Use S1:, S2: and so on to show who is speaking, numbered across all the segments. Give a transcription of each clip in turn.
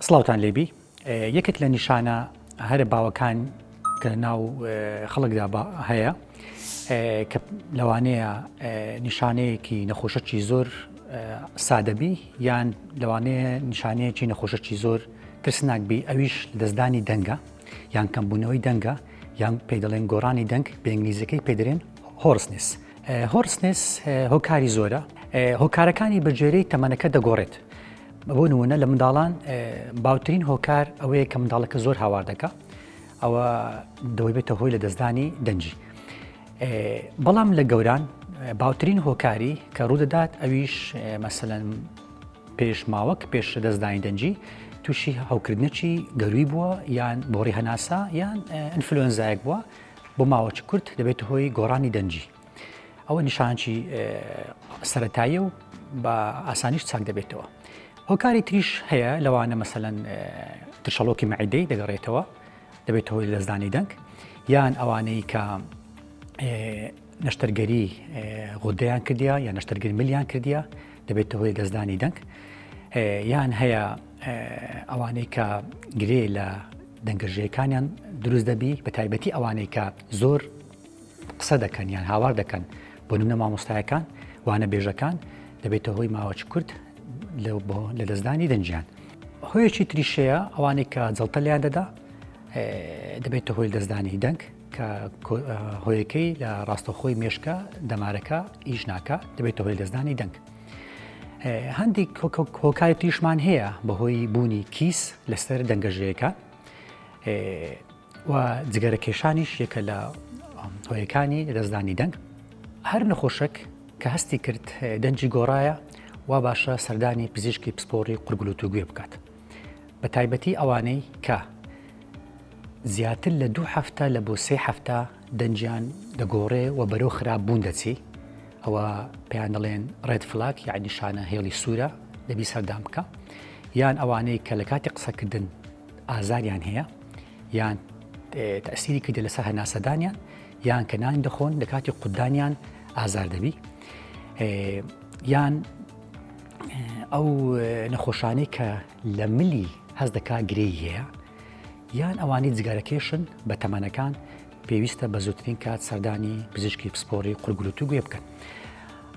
S1: سڵاوتان لێ بی یەکێک لە نیشانە هەرە باوەکان کە ناو خەڵکدا هەیە کە لەوانەیە نیشانەیەکی نەخۆشەکی زۆر سادەبی یان لەوانەیە نیشانەیەکی نەخۆشەکی زۆر ترسناک بی ئەویش دەستدانی دەنگە یان کەمبوونەوەی دەنگە یان پێ دەڵێن گۆڕانی دەنگ بەنگلیزەکەی پێدرێن هۆرسنس هۆرسنس هۆکاری زۆرە هۆکارەکانی بەجێرەی تەمەنەکە دەگۆڕێت بۆ نموونە لە منداڵان باوترین هۆکار ئەوەیە کە منداڵەکە زۆر هاوار دەکە ئەوە دەوەی بێتە هۆی لە دەستدانی دەنجی بەڵام لە گەوران باوترین هۆکاری کە ڕوودەدات ئەویش مەسەەن پێش ماوەک پێش دەستدانی دەنجی تووشی هەوکردنەچی گەروی بووە یان بۆڕی هەناسا یان ئەنفلۆنزایەک بووە بۆ ماوەچ کورت دەبێت هۆی گۆڕانی دەنجی ئەوە نیشانچی سەتاییە و بە ئاسانیش چاک دەبێتەوە هۆکاری تریش هەیە لەوانە مەسەەن ترشەڵۆکی مەعیدەی دەگەڕێتەوە دەبێت هۆی لەزدانی دەنگ یان ئەوانەی کە نەشتەرگەری غۆدەیان کردیا یا نەشتەرگر ملیان کردیا دەبێت هۆی دەستدانی دەنگ یان هەیە ئەوانەی کە گرێ لە دەنگەژەکانیان دروست دەبی بە تایبەتی ئەوانەی کە زۆر قسە دەکەن یان هاوار دەکەن بۆ نمونە مامۆستایەکان وانە بێژەکان دەبێتە هۆی ماوەچ کورت لە دەستدانی دەنجیان هۆیەکی تریشەیە ئەوانەی کە جڵتە لیان دەدا دەبێتە هۆی دەستدانی دەنگ کە هۆیەکەی لە ڕاستەخۆی مێشکە دەمارەکە ئیش ناکە دەبێتە هۆی دەستدانی دەنگ هەندێک هۆکاری تریشمان هەیە بەهۆی بوونی کیس لەسەر دەنگەژەیەەکە و جگەرە کێشانیش یەکە لە هۆیەکانی لەدەستدانی دەنگ، هەر نەخۆشەک کە هەستی کرد دەنگی گۆڕایە وا باشە سەردانی پزیشکی پسپۆڕی قورگلوتو گوێ بکات بە تایبەتی ئەوانەی کە زیاتر لە دوو هەفتە لە بۆ سێ هەفتە دەنگیان دەگۆڕێ و بەرەو خراپ بوون دەچی ئەوە پێیان دەڵێن ڕێد فلاک یاعنی شانە هێڵی سوورە لەبی سەردان بکە یان ئەوانەی کە لە کاتی قسەکردن ئازاریان هەیە یان تەسیری کردە لەسەر هەناسەدانیان یان کە نان دەخۆن لە کاتی قوددانیان ئازار دەبی یان ئەو نەخۆشانەی کە لە ملی هەز دەکا گرێی هەیە یان ئەوانی جگارەکێشن بە تەمەنەکان پێویستە بە زووترین کات سەردانی پزیشکی پسپۆری قورگلوتو گوێ بکەن.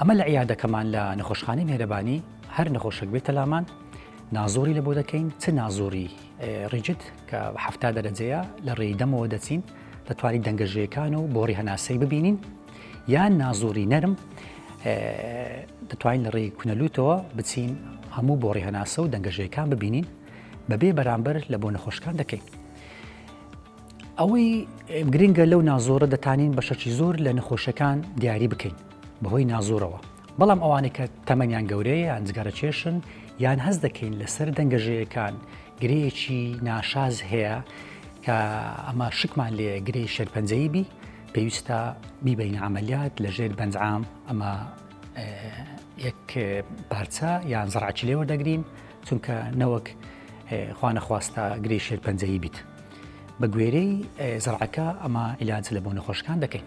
S1: ئەمە لە عیادەکەمان لە نەخۆشخانەی مێرەبانی هەر نەخۆشک بێتە لامان نازووری لەبۆ دەکەین چ نازووری ڕیجت کە حفتا دەرەجەیە لە ڕێی دەمەوە دەچین دەتوانین دەنگەژەکان و بۆڕی هەناسەی ببینین یان نازووری نەرم دەتوانین لە ڕێی کونەلووتەوە بچین هەموو بۆڕی هەناسە و دەنگەژەکان ببینین بەبێ بەرامبەر لە بۆ نەخۆشکان دەکەین. ئەوەی گرنگە لەو نازۆرە دەتانین بەشەکی زۆر لە نەخۆشەکان دیاری بکەین بەهۆی نازۆرەوە بەڵام ئەوانەی کە تەمەنیان گەورەیە یان جگەرەکێشن یان هەست دەکەین لەسەر دەنگەژەیەکان گرێیەکی ناشاز هەیە کە ئەمە شکمان لێ گرێی شێرپەنجەیی بی پێویستە بیبین عملیات لەژێر بەنجام ئەمە یەک پارچە یان زڕعکی لێوە دەگرین چونکە نەوەک خوانەخواستە گرێی شێرپەنجەیی بیت بە گوێرەی زڕعەکە ئەمە عیلاج لە بۆ نەخۆشکان دەکەین